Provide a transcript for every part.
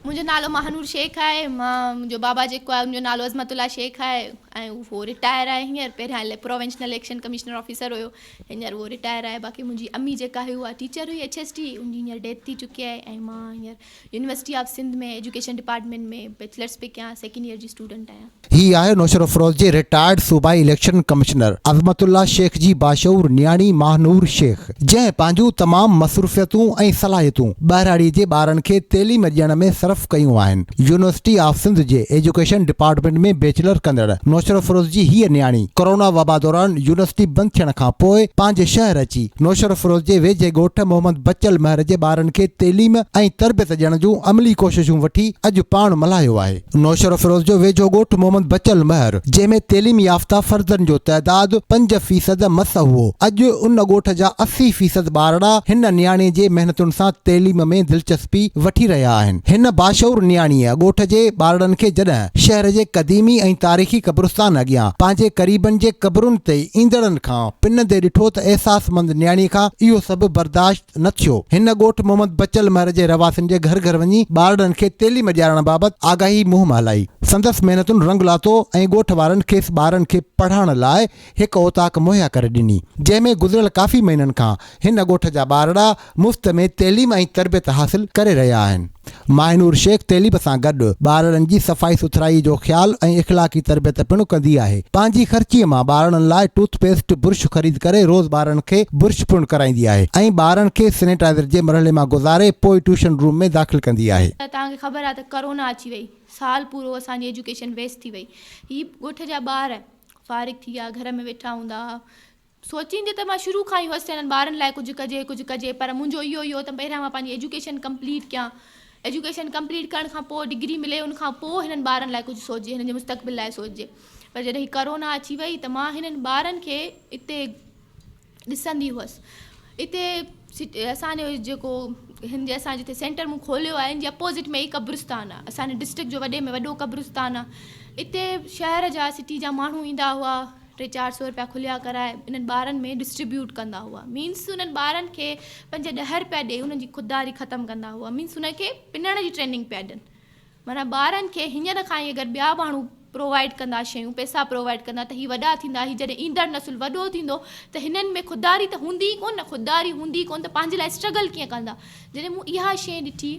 منهنجو نالو ماهنور شيخ آهي مان منهنجو بابا جيڪو آهي ان جو نالو عظمت الله شيخ آهي ۽ اهو رٽائر آهي هينئر پهريان پروونشنل اليڪشن ڪمشنر آفيسر هيو هينئر اهو رٽائر آهي باقي منهنجي امي جيڪا هئي اها ٽيچر هئي ايڇ ايس ٽي ان جي هينئر ڊيٿ ٿي چڪي آهي ۽ مان هينئر university of Sindh ۾ education department ۾ bachelors پي ڪيان سيڪنڊ ييئر جي اسٽوڊنٽ آهيان. هي آهي نوشهرافروز جي رٽائرڊ صوبائي election commissioner Azmatullah Shaikh جي باشعور نياڻي ماهنور شيخ جنهن پنهنجون تمام مصروفيتون ۽ صلاحيتون ٻهراڙي جي ٻارن کي تعليم ڏيڻ ۾ صرف ڪيون آهن يونيورسٽي آف سنڌ جي ايجوڪيشن ڊپارٽمينٽ ۾ بيچلر ڪندڙ نوشهرافروز جي هيء نياڻي ڪورونا وبا دوران يونيورسٽي بند ٿيڻ کان پوء پنهنجي شهر اچي نوشھرافروز جي ويجھي ڳوٺ محمد بچل مھر جي ٻارن کي تعليم ۽ تربيت ڏيڻ جون عملي ڪوششون وٺي اڄ پاڻ ملھايو آھي. نوشھرافروز جو ويجھو ڳوٺ محمد بچل مھر جنھن ۾ تعليم يافته فردن جو تعداد پنج فيصد مس ھئو اڄ ان ڳوٺ جا اسي فيصد ٻارڙا ھن نياڻي جي محنتن سان تعليم ۾ دلچسپي وٺي رھيا آھن ھن باشعور نياڻيء ڳوٺ جي ٻارڙن کي جڏھن شھر جي قديمي ۽ تاريخي قبرستان اڳيان پنھنجي قريبن جي قبرن تي ايندڙن کان پنن تي ڏٺو ته احساسمند نياڻيء کان اهو سڀ برداشت نه ٿيو. هن ڳوٺ محمد بچل مهر جي رهواسين جي گهر گهر وڃي ٻارڙن کي تعليم ڏيارڻ بابت آگاهي مهم هلائي. سندس محنتن رنگ لاتو ۽ ڳوٺ وارن کيس ٻارن کي پڙهڻ لاء هڪ اوطاق مهيا ڪري ڏني، جنهن ۾ گذريل ڪافي مهينن کان هن ڳوٺ جا ٻارڙا، مفت ۾ تعليم ۽ تربيت حاصل ڪري رهيا آهن. ماهنور شيخ تعليم سان گڏ ٻارڙن جي صفائي سٿرائي جو خيال ۽ اخلاقي تربيت پڻ ڪندي آهي. پنهنجي خرچي مان ٻارڙن لاء ٽوٿ پيسٽ، برش خريد ڪري روز ٻارڙن کي برش پڻ ڪرائيندي آهي ۽ ٻارڙن کي سينيٽائيزر جي مرحلي مان گذاري پوء ٽيوشن روم ۾ داخل ڪندي آهي. توهان کي خبر آهي ته ڪرونا اچي وئي سال پورو اسان جي ايجوڪيشن ويسٽ ٿي وئي هي ڳوٺ جا ٻار فارغ ٿي ويا گهر ۾ ويٺا هوندا ها سوچيندي ته مان شروع کان ئي هئس ته هنن ٻارن لاء ڪجهه ڪجي ڪجهه ڪجي پر منهنجو اهو ئي هو ته پهريان مان پنهنجي ايجوڪيشن ڪمپليٽ ڪيان ايجوڪيشن ڪمپليٽ ڪرڻ کان پوء ڊگري ملي ان کان پوء هنن ٻارن لاء ڪجهه سوچجي هنن جي مستقبل لاء سوچجي پر جڏهن هي ڪورونا اچي وئي ته مان هنن ٻارن کي اتي ڏسندي هئس اتي اسانجو جيڪو هن جي اسان جتي سينٽر مون کوليو آهي ان جي اپوزٽ ۾ ئي قبرستان آهي اسانجي ڊسٽرڪٽ جو وڏي ۾ وڏو قبرستان آهي اتي شهر جا سٽي جا ماڻهو ايندا هئا ٽي چار سئو رپيا کليا ڪرائي انهن ٻارن ۾ ڊسٽريبيوٽ ڪندا هئا مينس انهن ٻارن کي پنج ڏهه رپيا ڏئي انهن جي خودداري ختم ڪندا هئا مينس انهن کي پنڻ جي ٽريننگ پيا ڏين معنيٰ ٻارن کي هينئر کان ئي اگر ٻيا ماڻهو پرووائيڊ ڪندا شيون پئسا پرووائيڊ ڪندا ته هي وڏا ٿيندا هي جڏهن ايندڙ نسل وڏو ٿيندو ته هنن ۾ خودداري ته هوندي ئي ڪونه خودداري هوندي ئي ڪونه ته پنهنجي لاء اسٽرگل ڪيئن ڪندا جڏهن مون اها شيء ڏٺي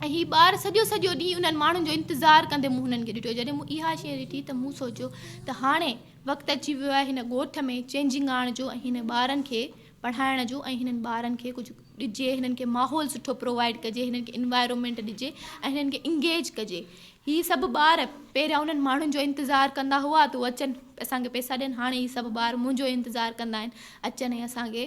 ۽ هي ٻار سڄو سڄو ڏينهن انهن ماڻهن جو انتظار ڪندي مون هنن کي ڏٺو جڏهن مون اها شيء ڏٺي ته مون سوچيو ته هاڻي وقت اچي ويو آهي هن ڳوٺ ۾ چينجنگ آڻڻ جو ۽ هنن ٻارن کي پڙهائڻ جو ۽ هنن ٻارن کي ڪجهه ڏجي هنن کي ماحول سٺو پرووائيڊ ڪجي هنن کي انوائرمينٽ ڏجي ۽ هنن کي انگيج ڪجي هي سڀ ٻار پهريان انهن ماڻهن جو انتظار ڪندا هئا ته هو اچن اسان کي پئسا ڏين هاڻي هي سڀ ٻار منهنجو انتظار ڪندا آهن اچن ۽ اسان کي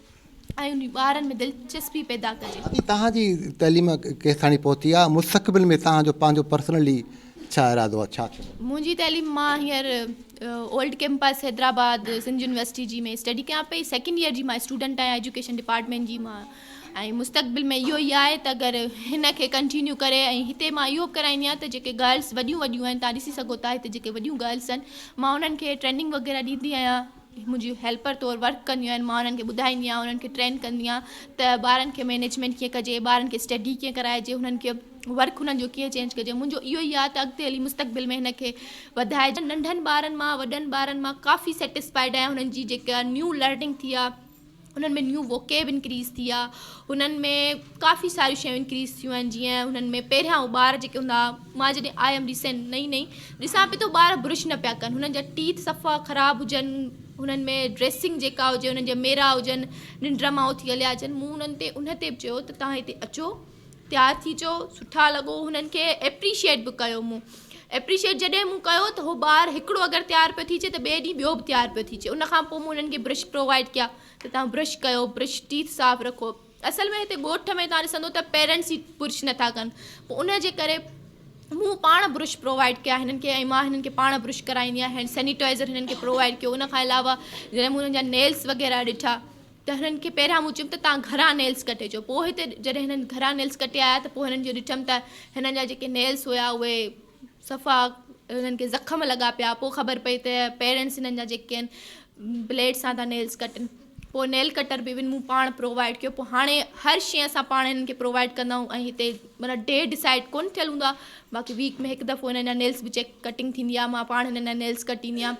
۽ ٻارن ۾ دلچسپي پيدا ڪجي. اڄ توهان جي تعليم ڪيستاڻي پهتي آهي؟ مستقبل ۾ توهان جو پنهنجو پرسنلي ڇا ارادو آهي؟ ڇا ٿيڻو آهي؟ منهنجي تعليم مان هينئر old campus Hyderabad Sindh university جي ۾ اسٽڊي ڪيان پئي سيڪنڊ ييئر جي مان اسٽوڊنٽ آهيان ايجوڪيشن ڊپارٽمينٽ جي مان ۽ مستقبل ۾ اهو ئي آهي ته اگر هن کي ڪنٽينيو ڪري ۽ هتي مان اهو به ڪرائيندي آهيان ته جيڪي گرلس وڏيون وڏيون آهن تان ڏسي سگهو ٿا هتي جيڪي وڏيون گرلس آهن مان انهن کي ٽريننگ وغيره ڏيندي آهيان منهنجي هيلپر طور ورڪ ڪنديون آهن مان انهن کي ٻڌائيندي آهيان انهن کي ٽرين ڪندي آهيان ته ٻارن کي مينيجمينٽ ڪيئن ڪجي ٻارن کي اسٽڊي ڪيئن ڪرائجي هنن کي ورڪ هنن جو ڪيئن چينج ڪجي منهنجو اهو ئي آهي ته اڳتي هلي مستقبل ۾ هن کي وڌائجي ننڍن ٻارن مان وڏن ٻارن مان ڪافي سيٽسفائيڊ آهيان هنن جي جيڪا نيو لرننگ ٿي آهي هنن ۾ نيو ووڪيب انڪريز ٿي آ هنن ۾ ڪافي ساريون شيون انڪريز ٿيون آهن جيئن هنن ۾ پهريان هو ٻار جيڪي هوندا هئا مان جڏهن آيم ريسنٽ نئي نئي ڏسان پئي ته ٻار برش نه پيا ڪن هنن جا ٽيٿ صفا خراب هجن هنن ۾ ڊريسنگ جيڪا هجي هنن جا ميرا هجن ننڊ مان اٿي هليا اچن مون هنن تي ان تي به چيو ته تهان هتي اچو تيار ٿي چو سٺا لڳو هنن کي ايپريشيئيٽ به ڪيو مون ايپريشيئيٽ جڏهن مون ڪيو ته هو ٻار هڪڙو اگر تيار پيو ٿي چي ته ٻئي ڏينهن ٻيو به تيار پيو ٿي چي ان کان پوء مون هنن کي برش پرووائيڊ ڪيا ته تان برش ڪيو برش ٽيٿ صاف رکو اصل ۾ هتي ڳوٺ ۾ تان ڏسندو ته پيرنٽس ئي برش نٿا ڪن پوء ان جي ڪري مون پاڻ برش پرووائيڊ ڪيا هنن کي ۽ مان هنن کي پاڻ برش ڪرائيندي آهيان هينڊ سينيٽائزر هنن کي پرووائيڊ ڪيو ان کان علاوه جڏهن مون هنن جا نيلس وغيره ڏٺا ته هنن کي پهريان مون چيم ته تان گهرا نيلس ڪٽي اچو پوء هتي جڏهن هنن گهرا نيلس ڪٽي آيا ته پوء هنن جو ڏٺم ته هنن جا جيڪي نيلس هيا اهي صفا هنن کي زخم لڳا پيا پوء خبر پئي ته پيرنٽس هنن جا جيڪي آهن بليڊ سان ٿا نيلس ڪٽن پوء نيل ڪٽر به ايون مون پاڻ پرووائيڊ ڪيو پوء هاڻي هر شي اسان پاڻ هنن کي پرووائيڊ ڪندا آهيون ۽ هتي مطلب ڊي ڊسائيڊ ڪون ٿيل هوندو آهي باقي ويڪ ۾ هڪ دفعو هنن جا نيلس به چيڪ ڪٽنگ ٿيندي آهي مان پاڻ هنن جا نيلس ڪٽيندي آهيان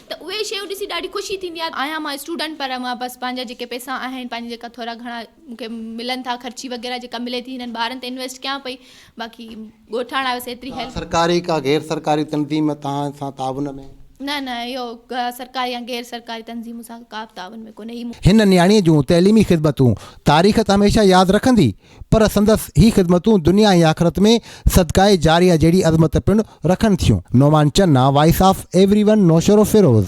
ته اهي شيون ڏسي ڏاڍي خوشي ٿيندي آهي. آهيان مان اسٽوڊنٽ پر مان بس پنهنجا جيڪي پئسا آهن پنهنجا جيڪا ٿورا گهڻا مون کي ملن ٿا خرچي وغيره جيڪا ملي ٿي هنن ٻارن تي انويسٽ ڪيان پئي باقي ڳوٺاڻ آهيو سي ايتري هيلپ. سرڪاري ڪا غير سرڪاري تنظيم توهان سان تعاون ۾؟ نه نه اهو ڪا سرڪاري يا غير سرڪاري تنظيم سان ڪا به تعاون ۾ ڪونهي هي مون. هن نياڻيء جون تعليمي خدمتون تاريخ ته هميشه ياد رکندي پر سندس هي خدمتون دنيا ۽ آخرت ۾ صدقاء جاريه جهڙي عظمت پڻ رکن ٿيون. Noman Channa, voice of everyone Naushahro Feroze.